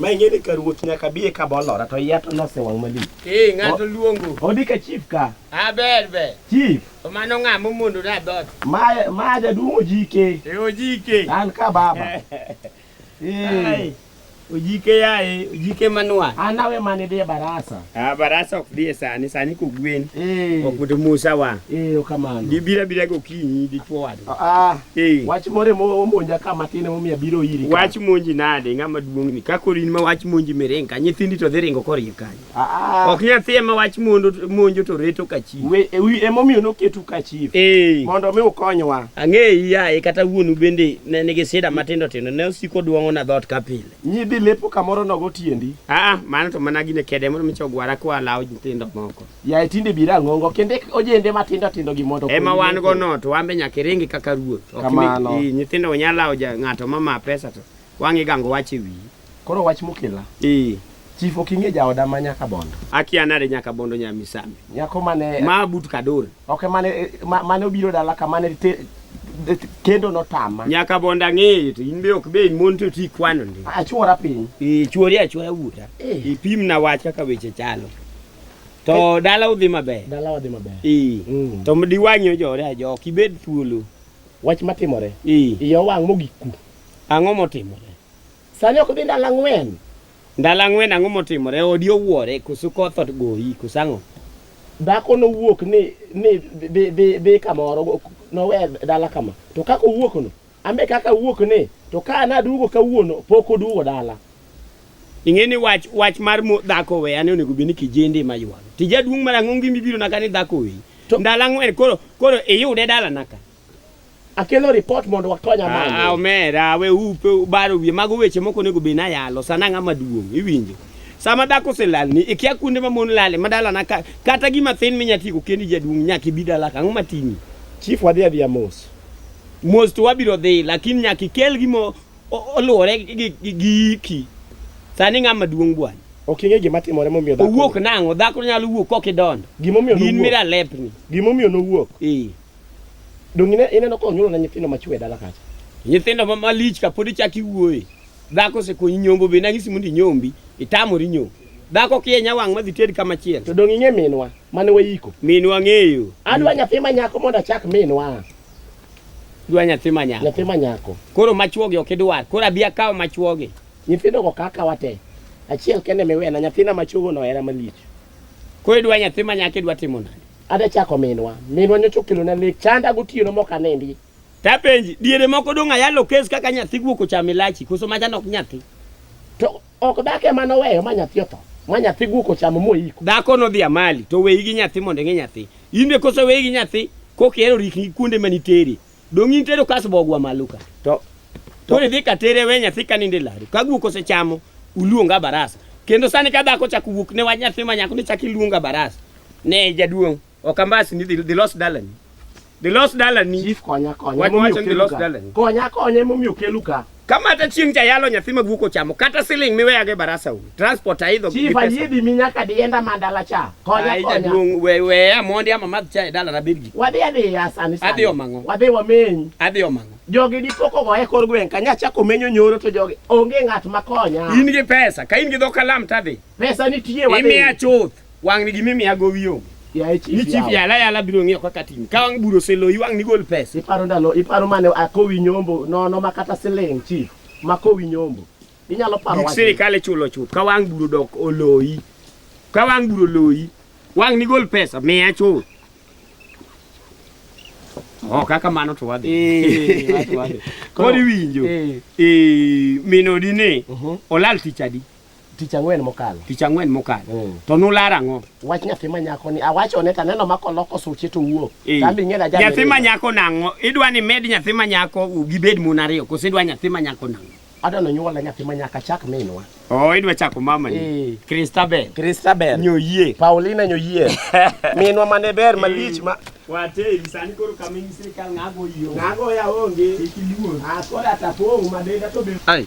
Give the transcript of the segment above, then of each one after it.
Ma ing'e ni ka ruoth nyaka biye ka bolora to iya to nosewang' malich. Ee, ng'ato luongo. Odi ka chief ka. Ah, ber ber. Chief, To mano ng'a momondo na dhoot? ma ma jaduong' ojike. E ojike. An ka baba. Ai, Eh, Ojike yaye, ojike manwa. an awe mane dhi e barasa. Ah, barasa ok dhi e sani, sani kogwen. Eh, Ok oto musa wa. eh, okamano. Gibira bira gokinyi dichwo wadwa. Ah, Eh. Wach more momonja ka matin emomiyo abiro iri. Wach monji nade ng'ama duong' ni ka koro in ma wach monji miring ka nyithindi to dhi ringo koriyo kanyo. Ah, ah. Ok nyathi ema wach mondo monjo to reto ka chief. We e wi emomiyo noketu ka chief. Eh. Mondo mi ukonywa. Ang'eyi yaye kata wuonu bende ne nigi sida matindo tindo ne osiko duong'o na dhoot ka pile. Nyidhi lepo kamoro nogo tiendi. Ah, ah mano to mana gine kede mondo micho gwara kwa lawo nyithindo moko. Yaye tinde biro ang'ongo kendo ek ojende matindo tindo gi mondo ema okonyi wan go metho. no to wan be nyaka iringi kaka ruoth Ok mi- Kamano. i, nyithindo we nyalo lawo ja- ng'ato ma ma pesa to wang' igango wach e wiyi Koro wach mokela. i Chief ok ing'e jaoda ma nyaka bondo. akia nade nyaka bondo nya misambi Nyako mane ma but kador ok mane eh, ma- mane obiro dala ka mane te- te- kendo notama. nyaka bondo ang'eyo to in be ok be in mon to ti kwano ndi Achuora piny. i chuori achuoya wuoda Eh. ipimna wach kaka weche chalo To dala udhi maber. Dala wadhi maber. Ee. Mm. To mdi wanyo jore ajo ok ibed thuolo. Wach matimore. Ee. Iyo wang' mogik ku. Ang'o motimore? Sani ok dhi ndalo ang'wen. Ndalo ang'wen ang'o motimore? Odi owuore koso koth ogoyi koso ang'o? Dhako nowuok ni ni dhi dhi dhi kamoro nowe dala kama. To kaka owuok no Ambe kaka awuok ni to ka naduogo kawuono pok oduogo dala. Ing'e ni wach wach mar mo- dhako weya ne onego bed ni kijende ma ywalo. Tija duong' mar ang'o ngimi biro naka ni dhako weyi. To- Ndalo ang'wen koro koro iyude dala naka. Akelo report mondo wakony Ah, amanye. omera we upe ubaro wiye mago weche moko onego bed nayalo sana ng'ama duong' iwinjo. Sama dhako oselalni ikia kuonde ma mon lale ma dala naka kata gima thin minya tigo kendi jaduong' nyaka ibi dala ka ang'o mating'i. Chief wadhi adhiya mos. mos to wabiro dhi lakini nyaka ikel gima oluwore gi giki sani ng'ama duong' bwana ok ing'e gima timore momiyo dhako owuok nang'o dhako nyalo wuok kok idondo gimomiyo in mira lepni gimomiyo nowuok ee dong ine ineno ka onyuolo na nyithindo machwe dala kacha nyithindo ma malich ka pod ichak iwuoye dhako osekonyi nyombo be nang'isi mondo inyombi itamori nyombo dhako kienya wang' madhi ted kama chiel to dong ing'e minwa mane wayiko minwa ng'eyo adwa nyathi ma nyako mondo achak minwa dwa nyathi ma nyako nyathi ma nyako koro machuogi ok idwar koro abi akaw machuogi nyithindo go kaka wate achiel kende miwena nyathina machuogo no era malich koro idwa nyathi ma nyako idwa timo nani ada chako minwa minwa nyocho kilo na lek chanda gotieno mok anendi tapenji diere moko dong ayalo kes kaka nyathi guok ochamo ilachi koso macha nok nyathi to Ok dak ema noweyo ma nyathi otho, ma nyathi guok ochamo moiko. Dhako nodhi amali to weyi gi nyathi mondo ing'e nyathi. In be kose weyi gi nyathi kok ihero rikni kuonde ma nitere. Dong' in tero kas bogwa malo ka. To Koro idhi ka tere we nyathi ka ninde laru. Ka guok osechamo uluonga barasa. Kendo sani ka dhako chako wuok ne wach nyathi ma nyako ni chako iluonga barasa. Ne jaduong'. Okambasi ni the lost dalani. The lost dalani. Chief konya konya. Watu wacha the lost dalani. Konya konya mumi ukelu ka. Kama hata chieng cha yalo nyathi magu ko chamo kata siling miwe age barasa u. Transport aidho. Chief ayidi minyaka dienda mandala cha. Konya konya. Aija dung we we amondi ama madh cha dala na bidgi. Wadhi adhi ya sani sani. Adhi omango. Wadhi wameny. Adhi omango. Jogi di poko go e kor gweng kanya cha komenyo nyoro to jogi onge ngat makonya. In gi pesa. Ka in gi dho kalam tadhi. Pesa nitie wadhi. Imiya chuth. Wang' ni gimimiya gowi onge. Yaye chief Ni chief yawa. yala yala biro ng'iyo kaka tim. Ka wang' buro seloyi wang' ni gol pesa. Iparo ndalo, iparo mane akowi nyombo nono ma kata siling chief ma kowi nyombo. Inyalo paro Gik wach. sirikal ichulo chuth. Ka wang' buro dok oloyi. Ka wang' buro oloyi. Wang' ni gol pesa miya chuth. Oh, kaka mano to wadhi. Eh, watu wale. Koro iwinjo. Eh. Eh, minodi ni Mhm. olal tich adi? Tich ang'wen mokalo. Tich ang'wen mokalo. Mm. To nular ang'o? Wach nyathi ma nyako ni awachone to aneno ma koloko suche to wuok. Eh. Kambi ng'e na jana. Nyathi ma nyako nang'o? Idwa ni med nyathi ma nyako gibed mon ariyo koso idwa nyathi ma nyako nang'o? Adwa no nyuola nyathi ma nyaka chak minwa. Oh, idwa chako mama ni. Eh. Christabel. Christabel. Nyoyie. Paulina Nyoyie. Minwa mane ber eh. malich ma Wate sani koro kaming sirkal ng'ago yo. Ng'ago ya onge. Ikiluo. Akoda ah, tapong' madenda to be. Ai.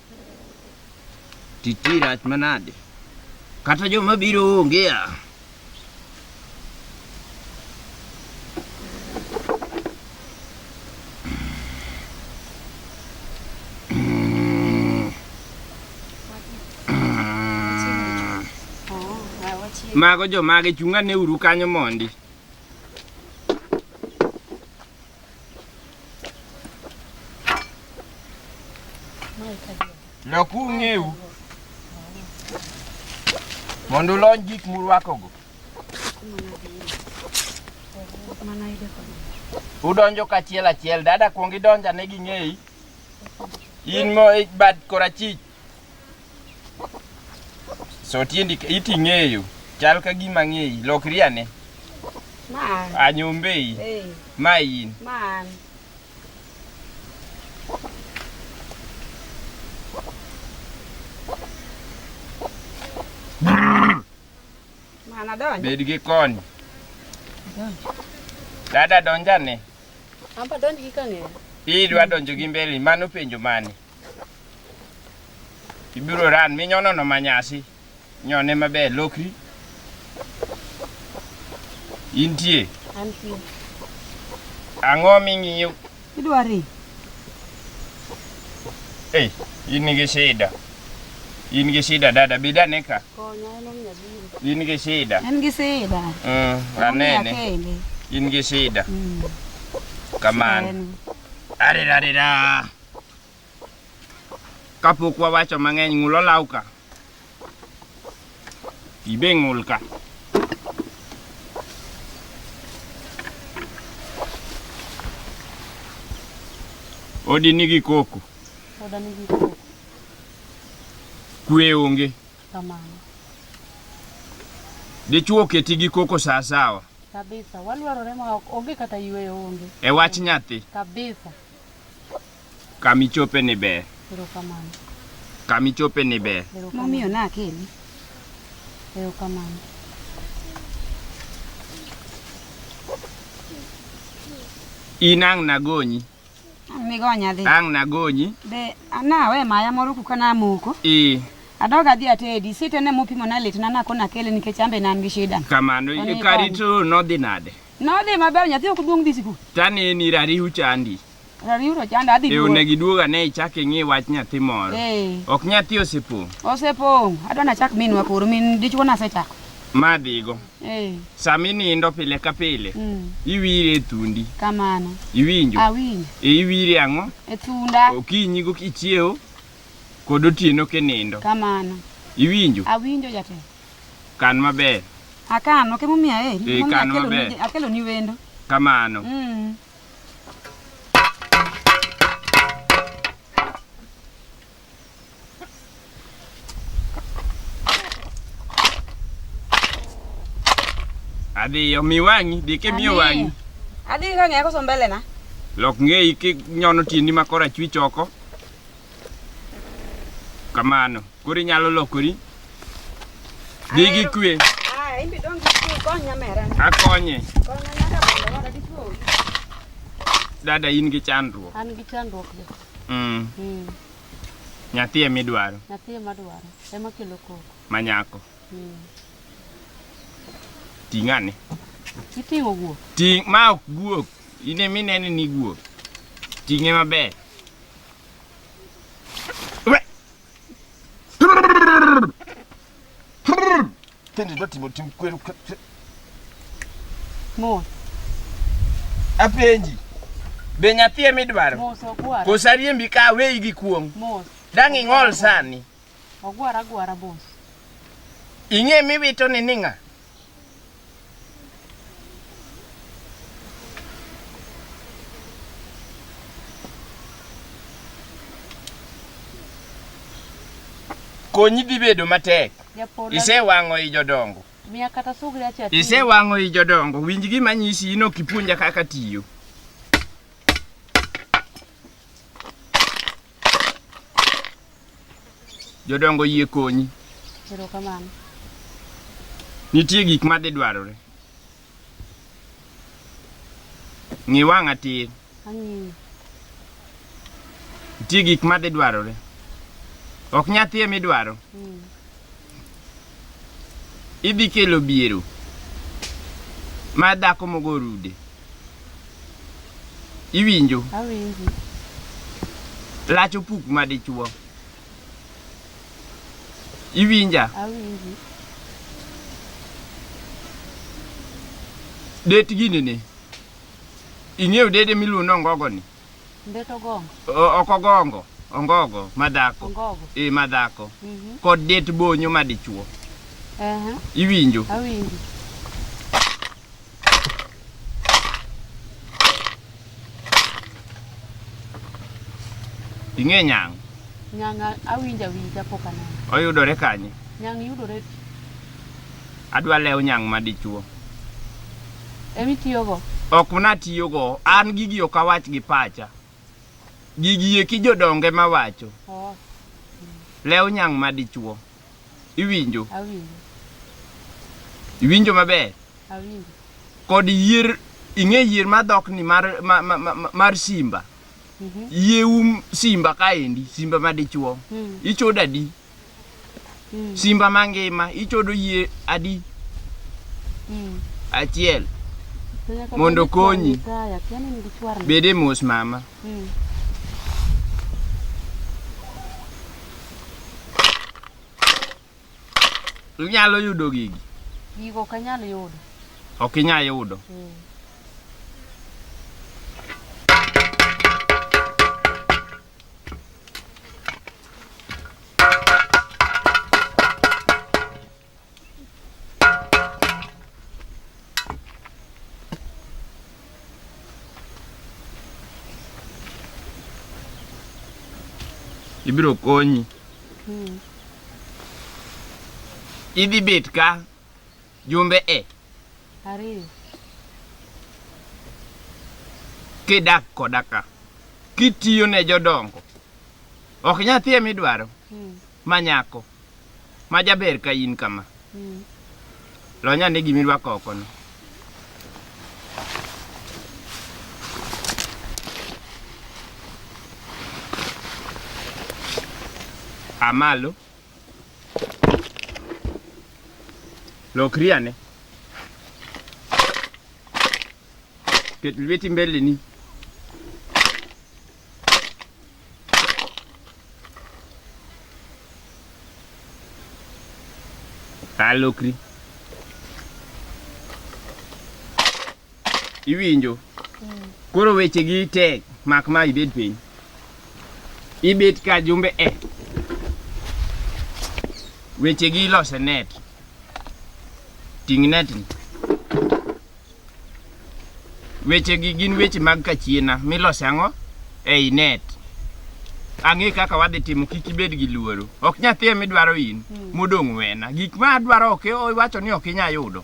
Titi rach manade. Kata joma biro onge a. Mago jomage chunga ne uru kanyo mondi. Lok ung'eu mondo ulony gik murwakogo. Udonjo kachiel achiel, dada kuong idonja ne ging'eyi. In mo bad korachich So tiendi iti ng'eyo chal ka gima ng'eyi lokri ane. Ma. Anyombei. Hey. Ma in. Man. Mana donjo. Bed gi kony. Donjo. Dada donjane. Amba donjo gi kang'eyo. Idwa donjo gi mbele mano penjo mane? Ibiro ran minyono no manyasi. Nyone maber lokri. Intie. Antie. Ang'o ming'iyo? Idwari. Ei, in gi shida. In gi shida dada, bida ne ka. Konya en omiyo biro. In gi shida. En gi sida. Mm, Omiyo anene. kende. In gi shida. Mm. Kamano. En. Arirarira. Kapok wawacho mang'eny, ng'ul olaw ka. Ibe ng'ul ka. Odi nigi koko. Oda nigi koko. Kwe onge. Kamano. Dichwo oketi gi koko saa sawa. Kabisa. Walwarore ma ok onge kata yueyo onge. E wach nyathi. Kabisa. Kama ichope ni ber. Erokamano. Kama ichope ni ber. Momiyo na akeli. Erokamano. In ang' nagonyi. Ang' nigonya dhi. Ang' nagonyi. Be anawe maya moro kuka namoko. Ee. Adog adhi atedi sitene mopimo na litna nakona akele nikech ambe ne an gi shida. Kamano, e karito nodhi nade? Nodhi maber nyathi ok duong' dhi sikul. Tane ni rariu chandi. Rariu to chanda adhi. Eyo ne giduoga ne ichak ing'i wach nyathi moro. Eh. Ok nyathi osepong'. Osepong'. Adwa na chak minwa koro min dichwo na sechak. Ma dhigo. Eh. Sama inindo pile ka pile. Mm. Iwire e thundi. Kamano. Iwinjo. Awinjo. E iwire ang'o? E thunda. Okinyi go kichiewo kod otieno kinindo. Kamano. Iwinjo. Awinjo jatelo. Kan maber. Akan, ok emomiyo aheri. Eh, Emomiyo kan akeloni- maber. Akeloni wendo. Kamano. Mm. Adhiyo, mi wang'i, di kimiyo Ani. wang'i. Adhi ka ng'eya koso mbele na. Lok ng'eyi kinyono tiendi ma korachwich oko. Kamano. Koro inyalo lokori. Dhi gi kwe. Ah, in be don't get you konya mera. Akonye. Konya nyaka bende wada gi tuo. Dada in gi chandruok. An gi chandruok jo. Mm. Mm. Nyathi ema idwaro. Nyathi ema dwaro. Ema kelo koko. Manyako. Mm. Ting'ane. Iting'o guok. Ting' ma ok guok. In ema inene ni guok. Ting'e maber. Tende dwa timo tim kweru. Mos. Apenji. Be nyathi ema idwaro? Mos okwara. Kosariembi ka weyi gi kuong'. Mos. Dang' ing'ol sani. Ogwara agwara boss. Ing'e miwito ni ning'a? Konyi dhi bedo matek. Isewang'o i jodongo. Miya kata sugri acha. Isewang'o i jodongo. Winj gima nyisi ino kipuonja kaka tiyo. Jodongo yie konyi. Erokamano. Nitie gik ma dhi dwarore. Ng'i wang'a tir. Ang'iyo. Nitie gik ma dhi dwarore. Ok nyathie midwaro. Mm. idhi kelo biero ma dhako mogo orude. Iwinjo? Awinji. Lach opuk ma dichuo. Iwinja? Awinji. Det gini ni. Ing'eyo dede miluongo ni ongogo ni? Mbeto gongo. O- ok ogongo ongogo madhako Ongogo. e madhako Mhm. kod det bonyo madichuo Aha. iwinjo Awinji. ing'e nyang' Nyanga awinja winja pok aneno. oyudore kanye Nyang yudore Adwa lew nyang' ma dichuo. Ema itiyogo? Ok natiyogo. An gigi ok awach gi pacha. Gigi eki jodonge ma wacho. Oh. Lew nyang' ma dichuo. Iwinjo? Awinjo. Iwinjo maber? Awinjo. Kod yier, ing'e yier ma dhok ni mar, ma, ma, ma, ma- mar simba. Mm -hmm. Yie um simba kaendi, simba ma dichuo. Mm. Ichoda di. Mm. Simba mangima ichodo yie adi? Mm. Achiel. Mondo konyi. Bede mos mama. Mm. Inyalo yudo gigi? Gigo ok anyal yudo. Ok inyal yudo. Mm. ibiro konyi. Hmm. Idhi bet ka Jumbe e. Ariyo. Kidak koda ka. Kitiyo ne jodongo. Ok nyathi ema idwaro. Hmm. Ma nyako. Ma jaber ka in kama. Hmm. Lonya ni gimi rwako oko no. Amalo. Lokri ane. Ket lweti mbeleni. A lokri. iwinjo koro weche gi tek mak ma ibed piny ibet ka jumbe e weche gi ilose net ting net ni weche gi gin weche mag kachiena milose ang'o ei net ang'e kaka wadhi timo kik ibed gi luoro ok nyathi emidwaro in modong' wena gik ma adwaro ok iwacho ni ok inya yudo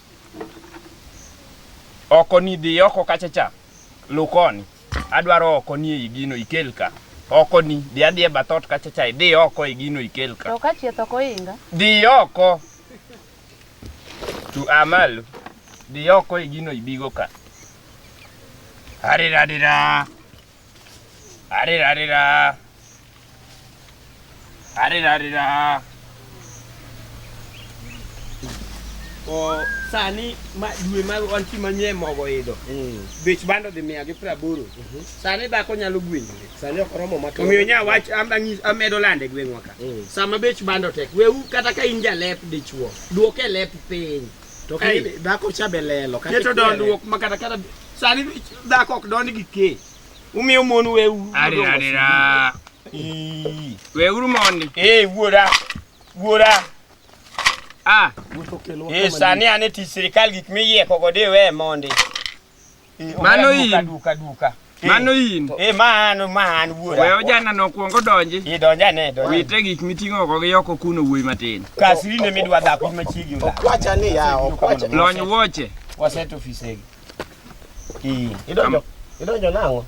Oko ni dhi oko kacha cha. Lukoni. Adwaro oko ni e gino ikel ka. Oko ni dhi adhi e bathot kacha cha dhi oko e gino ikel ka. To ka chieth ok oinga. Dhi oko. Tu amalu. Dhi oko e gino ibigo ka. Arirarira. Arirarira. Arirarira. O sani ma dwe ma wantie manyie mogo idho. Mm. Bech bando dhi mia gi praboro. Mhm. Sani dhako nyalo gwenyore. Sani ok oromo ma Omiyo nya wach am- ang'is- amedo lande e gweng'wa ka. Mm. Sama bech bando tek, wewu kata ka in jalep dichuo, duok e lep piny. To ka Ei. dhako cha be lelo kata keto ikwere. dondruok ma kata kata sani dhako ok dond gi kee umiyo mon weu Arira, arira. Ii. Weuru mondi. ee wuora wuora Ah, ee sani an e tich sirikal gik miyieko godo iwe mondi Eh, Mano oya duka, in. duka duka. Mano in. Eh mano man wuora. We ojana no kuongo donji. Idonja ne donja. Wite gik miting'o go gi yoko kuno wuoyi matin. Kasiri ne midwa dhako in machiegi ola. Okwacha ni ya, okwacha. Lony wuoche. Waset ofisegi. Eh. Idonjo. Idonjo nang'o?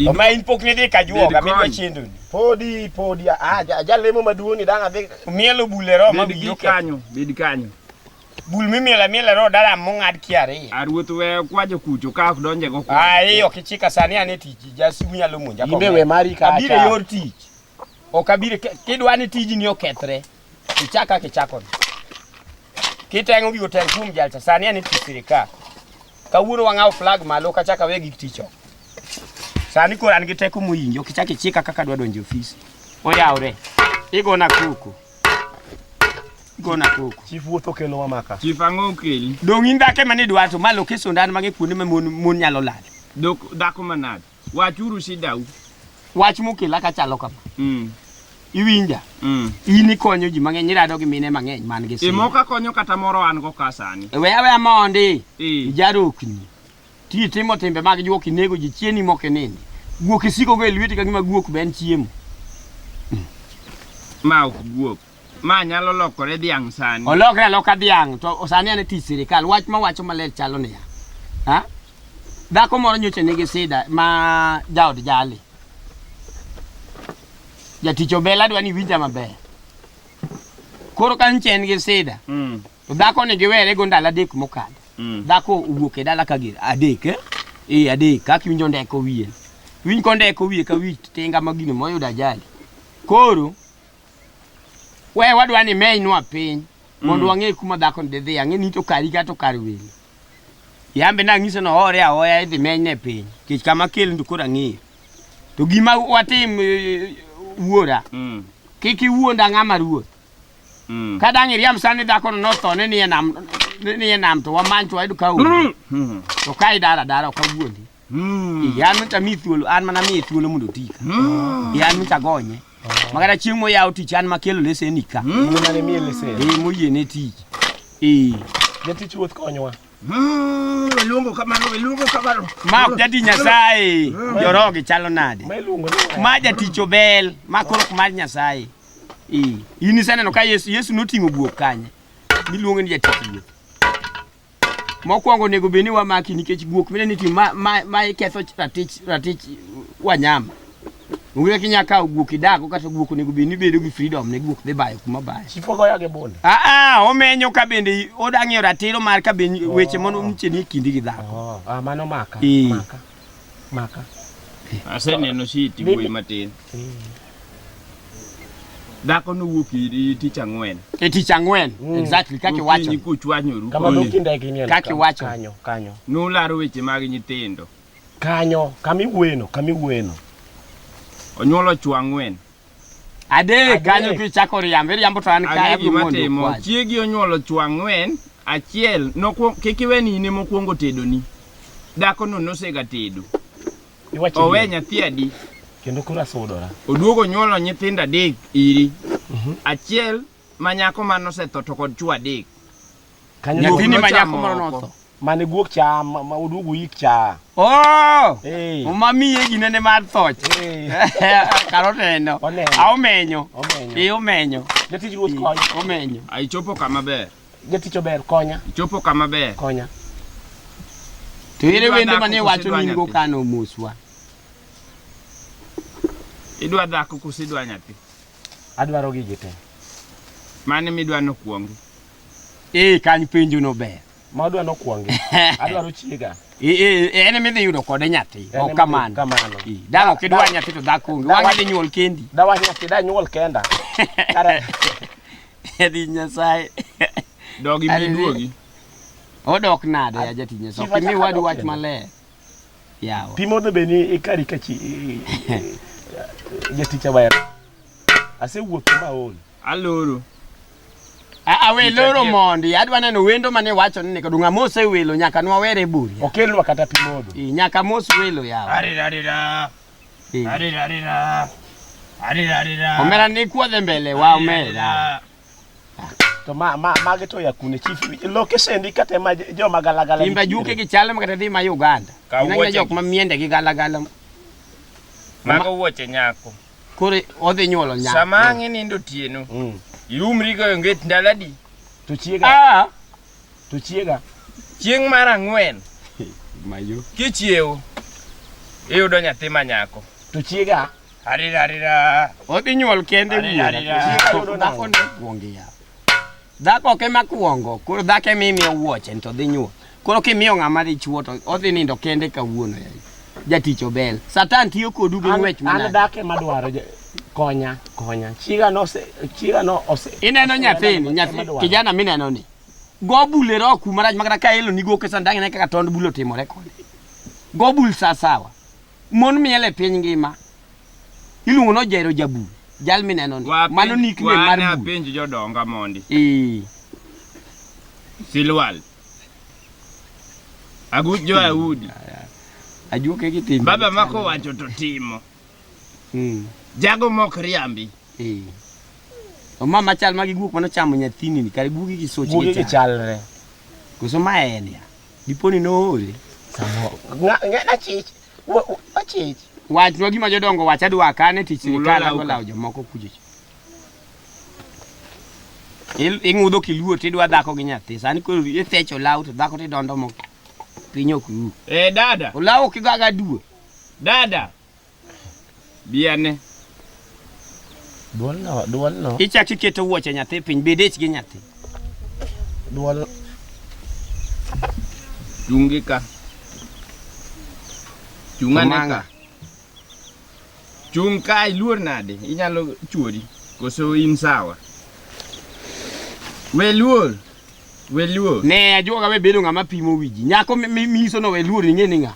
Oma in pok nidhi ka juoga midwa chendo. Podi podi ah ja- jalemo maduong' ni dang' adhi. Mielo bule roma Bed gi kanyo, bed kanyo. Bul mimiela miela ro dala mong'ad kiari. A ruoth we kwajo kucho ka ok donje go kwa. Ah, iyo kichika sani ane tiji. Jasu nyalo monja Imbe we mari ka. Abire yor tich. Ok abire kidwa ni tiji ni okethre. Kichaka kichako. Kitengo gigo tel kum jalcha sani ane tich sirika. Kawuono wang'aw flag malo kachaka we gik ticho. Sani koro an gi teko moyinjo kichaka ichika kaka dwa donjo ofis. Oyawre. Igona kuku. gona koko. Chief wuotho kelo wa maka. Chief ang'o okeli? Dong' in dhako ema nidwa to ma lokeso ndan mang'e kuonde ma mon mon nyalo lal. Dok dhako manade? Wachuru shidau. Wach mokela ka chalo kama. Mm. Iwinja? Mm. In ikonyo ji mang'eny, irado gi mine mang'eny man gi sida. Imo ka konyo kata moro an go ka sani. We awe amondi. Eh. Ijarokni. Ti itimo timbe mag juok inego ji chieni mok inindi. Guok isiko go e lweti ka gima guok be en chiemo. Ma ok guok. Ma nyalo lokore dhiang' sani. Olokre aloka dhiang' to sani an e tich sirikal. Wach ma wacho maler chalo niya. Ha? Dhako moro nyocha nigi sida ma jaod jali. Jatich obela dwa ni winja maber. Koro ka nche en gi sida. Mm. To dhako ni giwere go ndalo adek mokadho. Mm. Dhako owuok e dala ka gir adek eh? Eh adek kaka iwinjo ndeko wiye. Winj ko ndeko wiye ka wi tinga ma gino moyudo ajali. Koro we wadwa ni menywa piny mondo Mm. wang'e kuma dhako ni dhi ang'e ni to kari ka to kar welo. Yambe na ng'iso no hore ahoya idhi menyne piny. Kech kama kel ndu kora ng'eyo. To gima watim eh, wuora Mm. kik iwuonda ng'ama ruoth Ka dang' iriamb sani dhakono notho ni nie nam ni nie nam to wamany to wayud ka onge. To ka idara dara ok awuondi. Ee, an nyocha mi thuolo, an mana miye thuolo mondo oti ka. Ee, an nyocha gonye. Ma kata chieng' moyawo tich an makelo lesen ka. Mane miye lesen. Ee, moyie ne tich. Ee, Jatich ruoth konywa. Luongo kamano, luongo kamano. ma ok jati Nyasaye, jorogi chalo nade? Ma iluongo ni Ma jatich obel, ma koro ok mar Nyasaye. Eh, in iseneno ka Yesu Yesu noting'o guok kanye miluongo ni jatich guok. Mokwongo onego bed ni wamaki nikech guok mine ni tim ma, ma, ma iketho ratich ratich wanyama. Onge kaka inyalo kawo guok idago kata guok onego bed ni bedo gi freedom ne guok dhi bayo kuma bayo. Chief ogoya gi bunde. Ah ah omenyo ka bende odang'eyo ratiro mar ka bende weche mondo nitie ni kindi gi dhako. Ah, mano maka. Eh. Maka. maka aseneno shiti Mimi- wuoyi matin dhako nowuok iri tich ang'wen e tich ang'wen exactly kaka iwacho Gokinyi kuchwanyoru kama Oye. dokinde kinyo Kaki wacho. kanyo kanyo nularo weche mag nyithindo kanyo kami wueno kami wueno onyuolo chwo ang'wen Adek kanyo kichako riambo, iriambo to an ka Ang'e abiro gima mondo timo. okwayi. Chiegi onyuolo chwo ang'wen, achiel nokwong- kik iwe ni in ema okwongo tedoni. Dhakono nosega tedo. Iwacho Owe ni- nyathi adi? Kendo koro asudora. Oduogo onyuolo nyithindo adek iri. Achiel ma nyako mane osetho to kod chwo adek. Kanyo Nyathini guok ma nochamo nyako moro oko. notho. Mane guok cha ma ma oduogo yik cha. Oh! Eh. Uma miye gine ne mar thoch. Eh. Kar oneno. Oneno. A omenyo. Omenyo. Eh omenyo. Jatich ruoth konya. Omenyo. A ichopo kama ber. Jatich ober konya. Ichopo kama ber. Konya. To ere Idwa wendo dhako mane koso wacho idwa ni nigo nyathi? kano moswa. Idwa dhako koso idwa nyathi? Adwaro gigi te. Mane midwa nokwongi? Eh, kany penjo no ber. Ma adwa nokwongi. Adwaro chiega. Eh, eh, eh, en midhi yudo kode nyathi. En Ok ema kamano. kamano. Eh, Dala ok idwar nyathi to dhako onge. Dawa- Wang'e dhi nyuol kendi. Dawa nyathi da nyuol kenda. Kare. Yadhi Nyasaye. Dogi Ari- biduogi. Odok nade ya jatich Nyasaye. Chief Ok imi achaka wadu dok wach kendo. maler. Yawa. Pi modho be ni ikari ka chi jatich awaya. Asewuotho ma ol. Aloro. Awe loro mondi, adwa neno wendo mane wacho ni nika dunga mose welo nyaka nwa were buri. Okelwa kata pi modho. I nyaka mos welo yawa. Ari ari ra. Ari ari ra. Ari ari ra. Omera ni kuodhe mbele wa omera. to ma ma mage to ya kune chief location di kata ma joma galagala Timba juke gi chal makata dhi ma Uganda. Ka Ina wuoche- jok ma miende gi galagala. Mago wuoche nyako. Koro odhi nyuolo nyako. Sama ang' inindo otieno, mm. iumri goyo nget ndalo adi? to chiega Ah, to chiega Chieng' mar ang'wen mayo. kichiewo, iyudo nyathi ma nyako. to chiega Arira arira. Odhi nyuol kende Arira, arira. Dhako ne kuongi ya. Dhako ok ema kuongo, koro dhako ema imiyo wuoche to dhi nyuol. Koro kimiyo ng'ama dichuo to odhi nindo kende kawuono ya. Jatich obel. Satan tiyo kodu gi ng'wech An manade. dhako ema dwaro ja- konya konya. Chiga no se chiga no ose. Ineno nyathini, nyathi Ema dwaro. kijana mineno ni. Go bule ro kuma rach makata ka elo ni go kesan dang'e kaka tond bulo timore kode. Go bul sa sawa. Mon miel e piny ngima iluongo no Jairo Jabul, jal mineno ni. Mano nickname mar bul. Wana penj jodonga mondi. Ee. Silwal. Agut jo Ayudi. Ajuoke gi timo. Baba mako wacho to timo. Mm. Jago mok riambi. Ee. Oma machal magi guok mano chamo nyathini ni kare guogi gi soch gi chalre. Guogi gi chalre. Koso ma en ya. Diponi noore. Samoro. Ng'a- ng'a- achich Wa- wa- achich Wachwa gima jodongo wacho adwa kane tich Mulo sirikal law ka. agolawo jomoko kujoch. Il- Ing'udho kiluor tidwa dhako gi nyathi. Sani koro ithecho law to dhako tidondo moko. Piny ok ru. Eh, dada. Olaw kigaga duo. Dada. Biane. Duolno, duolno. Ichak iketo wuoche nyathi piny, bed ich gi nyathi. Duol. Chungi ka. Chungane ka. Chung ka iluor nade? Inyalo chuori. Koso in sawa. We luor. We luor. Ne ajuoga we bedo ng'ama pimo wiji. Nyako miso no we luor ing'e ni ng'a.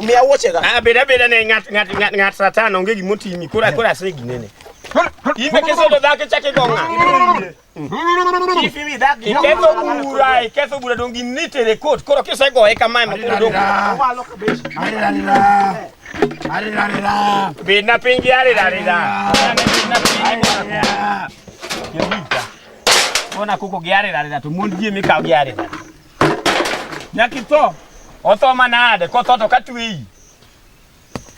Miya wuoche ga. Ah, beda beda ne ngat ngat ngat ngat satan onge gimo timi. Kora kora se ginene. Imbe keso do dake chake gonga. Ifi mi dake. Ikeso bura, ikeso bura don gi nite re court. Koro keso go e kama ma koro don. Malo ka beshi. Ari ari ra. Ari ari ra. Bina pingi ari ari ra. Bina pingi. Yobita. Ona kuko giare ari ra to mon gi mi ka giare. Nyakitho. Otho manade kotho to katweyi.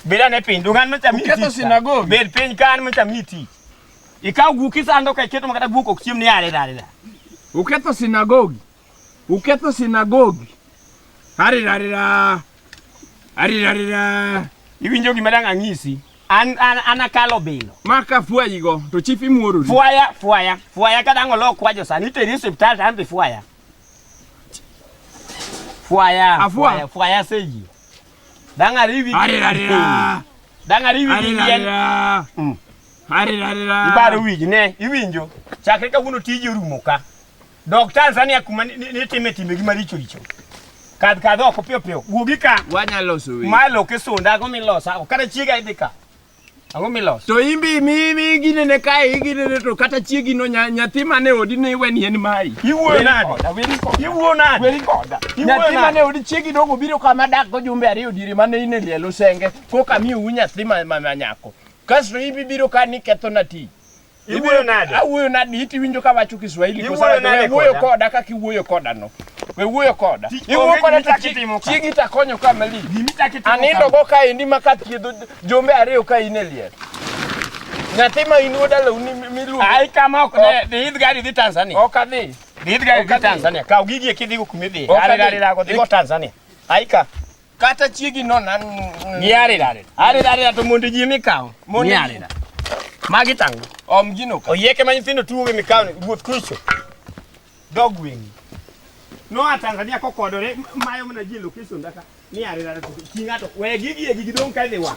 Beda ne piny dungan mecha miti. Uketho sinagogi. Bed piny kan mecha miti. Ikaw guok isando ka iketo makata guok ok chiem ni are dare da. Uketho sinagogi. Uketho sinagogi. Are dare da. Are dare da. Iwinjo gima dang' ang'isi. An an an akalo bilo. Maka fwayigo to chief imuorori. Fwaya fwaya fwaya ka dang' olok kwajo sani iteri e osiptal to an be fwaya. Fwaya, Afua. fwaya, fwaya seji. Danga rivi. Are are ra. Danga rivi Are are yen. ra. Mm. Are are ra. Ibaro wiji ne, iwinjo. Chakre kawuono tiji orumo ka. Dok Tanzania kuma ni- ni- nitime timbe gi maricho richo. Kadh kadh oko piyo piyo. Wuogi ka. Wanya loso weche. Malo kisunda go milosa. Kata chiega idhi ka. Ang'o miloso? To imbi mi mi gine ne kae igine ne to kata chiegi no nya- nyathi mane odi ne iwe ni en mai. Iwuoyo nade? Iwuoyo nade? Weri koda. Iwuoyo Nyathi nade? mane odi chiegi dongo biro kama dak go jumbe ariyo diere mane ine lielo senge koka mi u nyathi ma ma ma nyako. Kasto ibi biro ka ni ketho na ti. Iwuoyo nade? Awuoyo nade? Iti winjo ka wacho Kiswahili kwa sababu wewe wuoyo koda kaka iwuoyo koda no. Wewe wuoyo koda. Iwuoyo koda to chiegi itakonyo ka mali. Anindo go ka endi ma ka thiedho jombe ariyo ka in e liet. Nyathi ma in wuoda lo ni miluongo. Ai kama ok ne dhi idh gari dhi Tanzania. Ok adhi. Dhi idh gari dhi Tanzania. Kaw gigi e kidhi go kuma idhi. Ari ari lago dhi go Tanzania. Ai ka. kata chiegi no nan Niare dare. Are dare to mondo ji mikawo. Mondo ji. Niare dare. Magi tango. om gino ka Oyieke ma nyithindo tuwo gi mikawo ni wuoth kucho. dog wing No a Tanzania kokodore mayo mana ji location daka. Niare dare to ki ng'ato. We gigi e gigi dong' ka idhi wang'.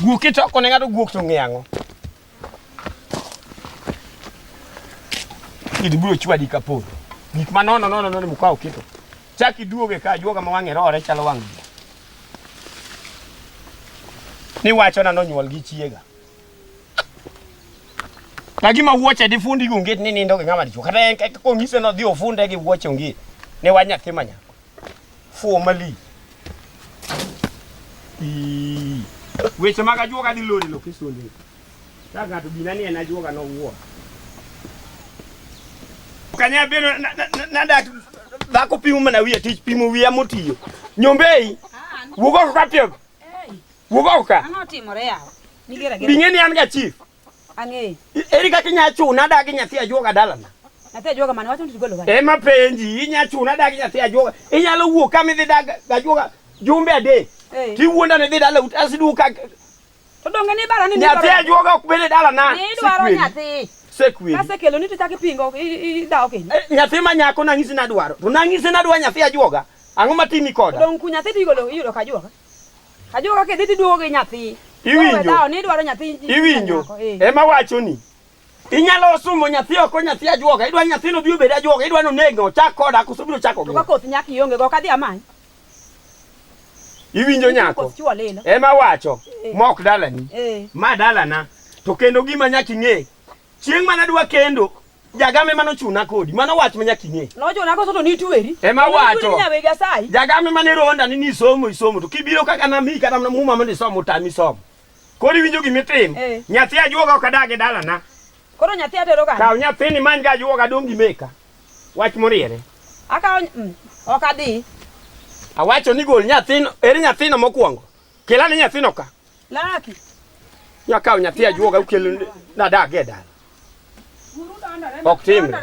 Guok kitoko ne ng'ato guok to ng'e ang'o? Kidi biro chwadi ka pod. Gik ma nono nono nono mukawo kito. Chak iduoge ka juoga ma wang'e rore chalo wang' ji. Ni wacho na nonyuol gi chiega. Na gima wuoche di fundi gi onget ni nindo gi ng'ama dichwo. Kata en kaka kong'ise no dhi ofunde gi wuoche onget. Ne wa nyathi ma nyako. Formally. Ii. Weche mag ajuoga dhi lori lok isonde. Ka ng'ato gina ni en ajuoga nowuo. Kanya beno nadak dhako pimo mana wiye tich pimo wiya motiyo. Nyombei. Wugo ka piego. Wugo ka. Ano timore yawo. Nigera gera. Bing'e ni an ga chief. Ang'eyo. Eri kaka inya chuna adagi nyathi ajuoga dalana. Nyathi ajuoga mane wacho ni tigolo kare. Ema penji inya chuna adagi nyathi ajuoga. Inyalo wuok kama idhi dag ajuoga jumbe adek. Tiwuonda ni dhi dala ut asiduka. To donge ni bara ni nyathi ajuoga ok bede dalana. Ni dwaro nyathi. Sekwi. Kase kelo ni to chak ipingo idawo kendo. Eh, nyathi ma nyako nang'isi nadwaro. To nang'isi nadwaro nyathi ajuoga. Ang'o matimi koda? Donge nyathi tigolo iyudo ka ajuoga. Ajo kaka idhi tiduogo gi nyathi. Iwinjo? Dawo ni idwaro nyathi. Iwinjo? Eh. Ema wacho ni. Inyalo sumo nyathi oko nyathi ajuoga. Idwa nyathino bi obed ajuoga. Idwa nonege ochak koda koso biro chako gi. Koth nyak ionge go kadhi amany. Iwinjo nyako? Ema wacho. Eh. Mok dalani. Eh. Ma dalana. To kendo gima nyaki ng'e. Chieng' mana dwa kendo Jagame mano chuna kodi. Mano wach manya kinye. No chuna koso to ni tueri. Ema wacho. Ni nyawega sai. Jagame mane ronda ni ni somo isomo to kibiro kaka na mi kata na muma mane somo tami somo. Kodi winjo gimi tim. Hey. Eh. Nyathi ajuoga okadage dala na. Koro nyathi atero kan. Kaw nyathi ni manja ajuoga dongi meka. Wach moriere. Akaw mm, okadhi. Awacho ni gol nyathino, eri nyathino mokwongo. Kelane nyathino ka. Laki. Nya kaw nyathi ajuoga ukel na dak e dala. Ok timre.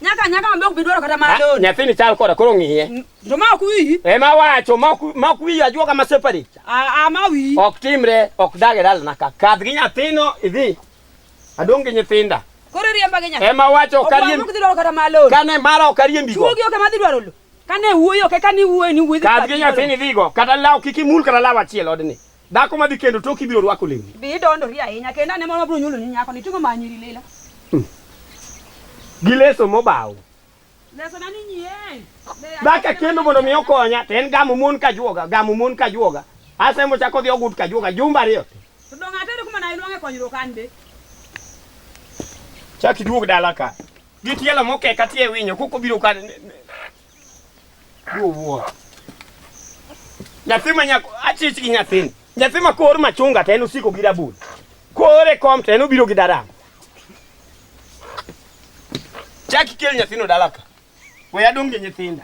Nyaka nyaka ambe ok bidwaro kata mar lori. Nyathi ni chal koda koro ng'iye. To ma ok wiyi. E ma wacho ma ok ma ok wiyi ajuoga ma separi. A a ma wiyi. Ok timre, ok dak e dala naka. Kadh gi nyathino idhi. Adong gi nyithinda. Koro riemba gi nyathi. E ma wacho kariembi. Ok bidwaro kata mar lori. Kane mara ok ariembi go. Chuogi ok ma dhi dwaro lo. Kane wuoyo kaka ni wuoyo ni wuoyo. Kadh gi nyathini dhigo kata law kik imul kata law achiel odni. Dhako madhi kendo tok ibiro rwako lewni. Bi idondori ahinya kendo ane moro mabiro nyuoloni nyako ni tingo manyiri lilo. Hmm. Gi leso mobaw. Leso nani nyien. Dhaka kendo mondo mi okonya to en gamo mon ka juoga gamo mon ka juoga. Ase mo chako dhi ogut ka juoga jumba ariyo. To donga tere kuma na iluonge konyruok an be. Chak iduog dala ka. Gi tielo moke ka tie winyo koko biro ka Wuo. Nyathi ma nyako achich gi nyathini. Nyathi ma kor machunga to en osiko gi rabul. Kore kom to en obiro gi daram. Chaki kel nyathino dalaka. We adong' gi nyithinda.